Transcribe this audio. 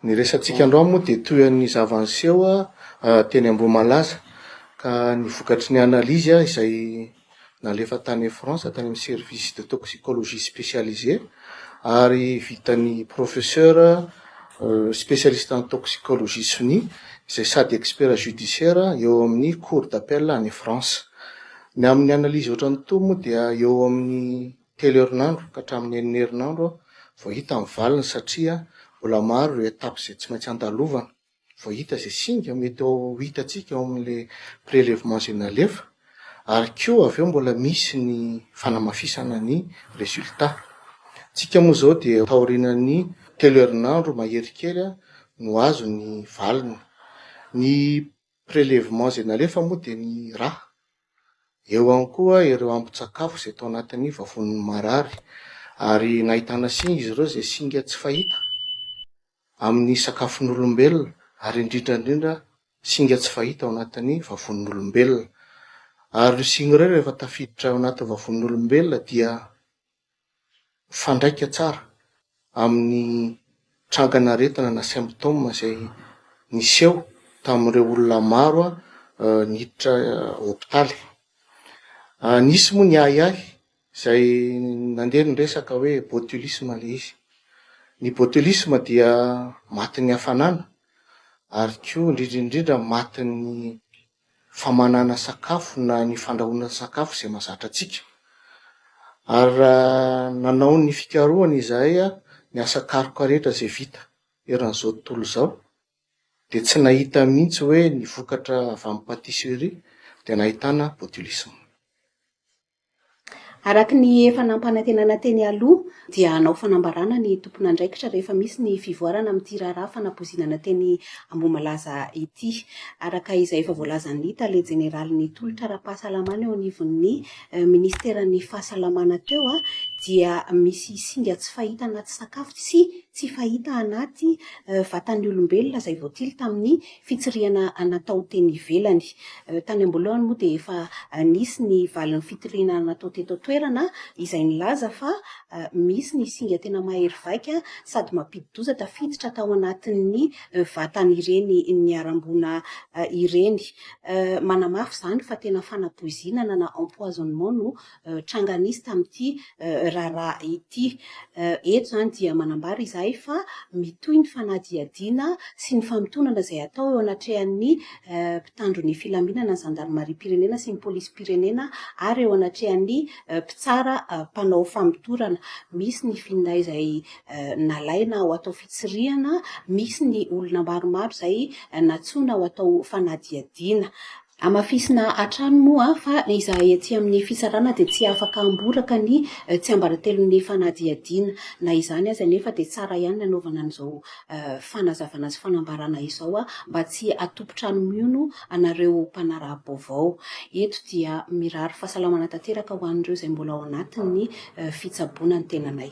Ny resatsika androany moa dia toy ny zava-niseho teny Ambohimalaza ka ny vokatry ny analyse izay nalefa tany France tany amin'ny service de toxicologie spécialisé ary vitan'ny professeur spécialiste en toxicologie sonia izay sady expert judiciaire eo amin'ny cour d'appel any France. Ny amin'ny analyse ohatran'itony moa dia eo amin'ny Telo herinandro ka hatramin'ny enina herinandro aho vao hita ny valiny satria mbola maro ireo étapes izay tsy maintsy andalovana vao hita izay singa mety ho hitantsika ao amin'ilay prélèvement izay nalefa ary koa avy eo mbola misy ny fanamafisana ny résultats tsika moa izao dia taorianan'ny telo herinandro mahery kely no azo ny valiny. Ny prélèvement izay nalefa moa dia ny ra. Eo ihany koa ireo ambin-tsakafo izay tao anatin'ny vavoniny marary ary nahitana singa izy ireo izay singa tsy fahita amin'ny sakafon'olombelona ary indrindra indrindra singa tsy fahita ao anatin'ny vavon'olombelona. Ary ireo singa ireo rehefa tafiditra ao anatin'ny vavon'olombelona dia mifandraika tsara amin'ny trangan'aretina na symptômes izay niseho tamin'ireo olona maro niditra hopitaly. Nisy moa ny ahiahy izay nandeha ny resaka hoe botulisme ilay izy, ny botulisme dia matin'ny hafanana ary koa indrindra indrindra matin'ny famanana sakafo na ny fandrahoana sakafo izay mahazatra antsika. Ary raha nanao ny fikarohana izahay a, ny asa karoka rehetra izay vita eran'izao tontolo izao dia tsy nahita mihitsy hoe ny vokatra avy amin'ny pâtisserie dia nahitana botulisme. Araka ny efa nampanantenana teny aloha dia hanao fanambarana ny tompon'andraikitra rehefa misy ny fivoarana amin'ity raharaha fanapoizinana teny Ambohimalaza ity. Araka izay efa voalazan'ny tale jeneralin'ny tolotra ara-pahasalamana eo anivon'ny minisiteran'ny fahasalamana teo dia misy singa tsy fahita anaty sakafo sy tsy fahita anaty vatan'ny olombelona izay voatily tamin'ny fitsirihana natao teny ivelany. Tany am-boalohany moa dia efa nisy ny valin'ny fitoriana natao teto an-toerana izay nilaza fa misy ny singa tena mahery vaika sady mampidi-doza tafiditra tao anatin'ny vatan'ireny niharam-boina ireny. Manamafy izany fa tena fanapoizinana na empoisonnement no tranga nisy tamin'ity raharaha ity. Eto izany dia manambara izahay fa mitohy ny fanadihadiana sy ny famotonana izay atao eo anatrehan'ny mpitandro ny filaminana, ny zandarimariam-pirenena sy ny polisim-pirenena ary eo anatrehan'ny mpitsara mpanao famotorana. Misy ny finday izay nalaina ho atao fitsirihana, misy ny olona maromaro izay nantsoina ho atao fanadihadiana. Hamafisina hatrany moa fa izahay ety amin'ny fisarana dia tsy afaka hamboraka ny tsiambaratelon'ny fanadihadiana. Na izany aza anefa dia tsara ihany ny hanaovana an'izao fanazavana sy fanambarana izao mba tsy hatompon-trano miono anareo mpanaraha-baovao. Eto dia mirary fahasalamana tanteraka ho an'ireo izay mbola ao anatin'ny fitsaboana ny tenanay.